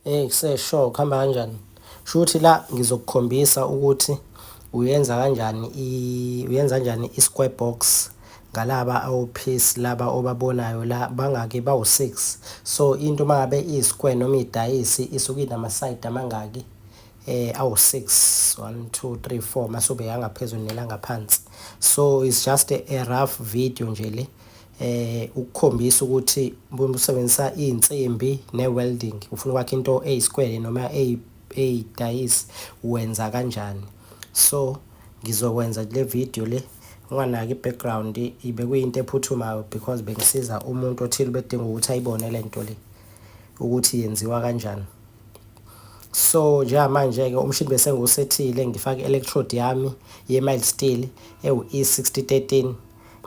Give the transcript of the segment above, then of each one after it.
Hey kusesho kuhamba kanjani? Shuthi la ngizokukhombisa ukuthi uyenza kanjani i uyenza kanjani i-square box ngalaba awophisi laba obabonayo la bangaki bawu-6 so into uma ngabe iyi-square noma idayisi isuke inamasayidi amangaki eh awu-6 1 2 3 4 mase ubeka ngaphezulu nelangaphansi so it's just a rough video nje le eh ukukhombisa ukuthi uma usebenzisa izinsimbi ne-welding ufuna ukwakha into eyisikwele noma eyidayisi wenza kanjani so ngizokwenza le video le unganaki i-background ibe kuyinto ephuthumayo because bengisiza umuntu othile bedinga ukuthi ayibone le nto le ukuthi yenziwa kanjani so njengamanje-ke umshini bese ngiwusethile ngifake i-electrode yami ye-mild steel ewu-e 6013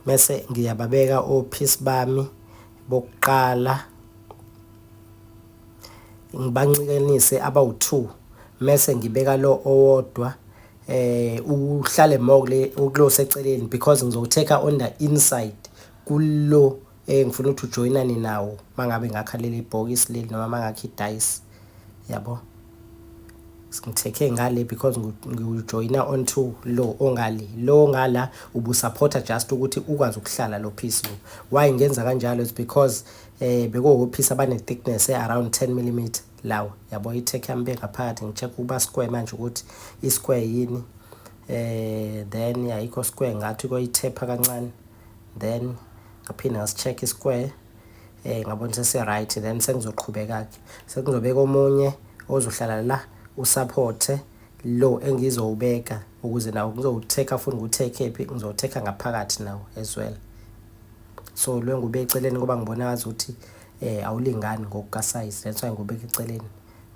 mese ngiyababeka ophisi bami bokuqala ngibanxikanise abawu-2 mese ngibeka lo owodwa eh uhlale more kule ukulo seceleni because ngizowuthatha on the inside kulo Eh ngifuna ukuthi ujoyinane nawo mangabe ngakha leli bhokisi leli noma mangakha idice. Yabo? Ngithekhe ngale because ngiwujoyina onto lo ongale. Lo ngala ubusupporta just ukuthi ukwazi ukuhlala lo piece lo. Why ngenza kanjalo is because eh bekuwophisi abane-thickness e-around 10 mm lawa. Yabo i-tech yami bengaphakathi ngi-check ukuba square manje ukuthi i-square yini. Eh then ayikho square ngathi koyithepha kancane. then ngaphinde ngasi-check i-square eh ngabona sesi-right then sengizoqhubeka-ke sekuzobeka omunye ozohlala la usaphothe lo engizowubeka ukuze nawo ngizowutheka futhi ngiwuthekhe phi ngizowuthekha ngaphakathi nawo as well so lo engube eceleni ngoba ngibona ngazi ukuthi eh awulingani ngokukasayizi that's why ngibeke eceleni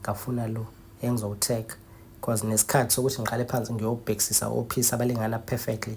ngafuna lo engizowutheka because nesikhathi sokuthi ngiqale phansi ngiyobhekisisa ophisa abalingana perfectly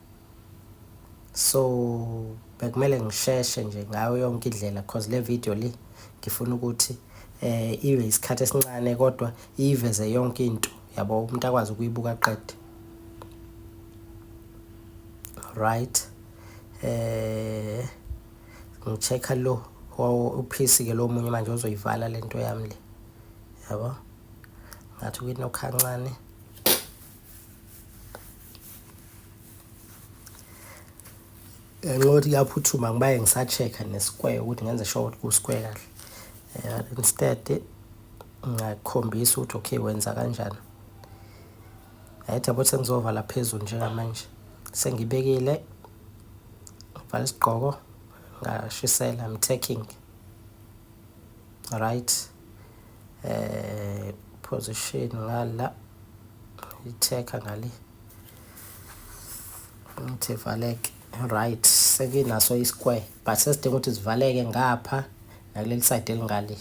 so bekumele ngisheshe nje ngayo yonke indlela cause le video le ngifuna ukuthi eh ibe isikhathi esincane kodwa iveze yonke into yabo umuntu akwazi ukuyibuka qede right eh ngichecka lo uphisi ke lo munye manje ozoyivala lento yami le yabo ngathi kwinokhancane ngenxa yokuthi kuyaphuthuma ngibaye ngisa-check-a ne-square ukuthi ngenze sure ukuthi ku-square kahle eh, instead ngakhombisa ukuthi okay wenza kanjani ayithi yabo sengizovala phezulu njengamanje sengibekile ngivala isigqoko ngashisela I'm taking right eh position ngala itheka ngale ngithi valeke right sekinaso i-square but sesidinga ukuthi sivaleke ngapha nakuleli side elingale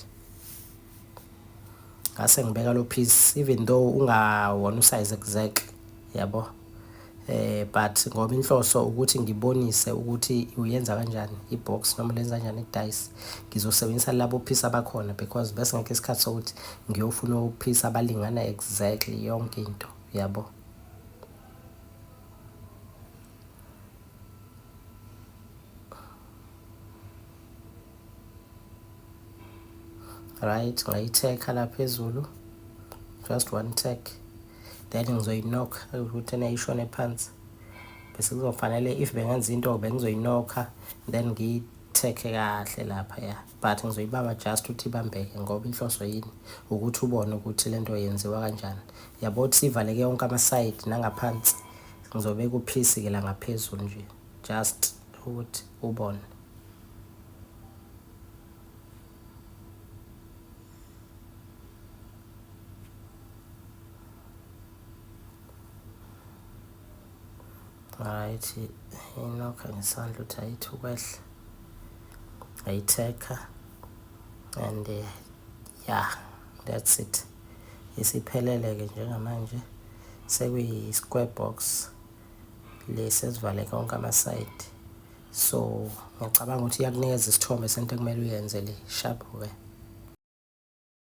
ngase ngibeka lo piece even though ungawona usize exactly yabo eh but ngoba inhloso ukuthi ngibonise ukuthi uyenza kanjani ibox noma lenza kanjani idice ngizosebenzisa labo phisa bakhona because bese ngeke isikhathi sokuthi ngiyofuna ukuphisa abalingana exactly yonke into yabo right ngayithekha la phezulu just one take that ngizoyinokha ukuthi ena ishone phansi bese kuzofanele if bengenza into bengizoyinokha then ngiyithekhe kahle lapha ya but ngizoyibamba just ukuthi ibambeke ngoba inhloso yini ukuthi ubone ukuthi le nto yenziwa kanjani yabo ukuthi sivaleke yonke amasayidi nangaphansi ngizobe kuphisi-ke la ngaphezulu nje just ukuthi ubone right inokha ngesandla ukuthi ayithi ukwehla ayithekha and eh, yeah that's it isiphelele-ke njengamanje sekuyi-square box lesi esivale konke amasayidi so ngicabanga ukuthi iyakunikeza isithombe sento ekumele uyenze le sharp we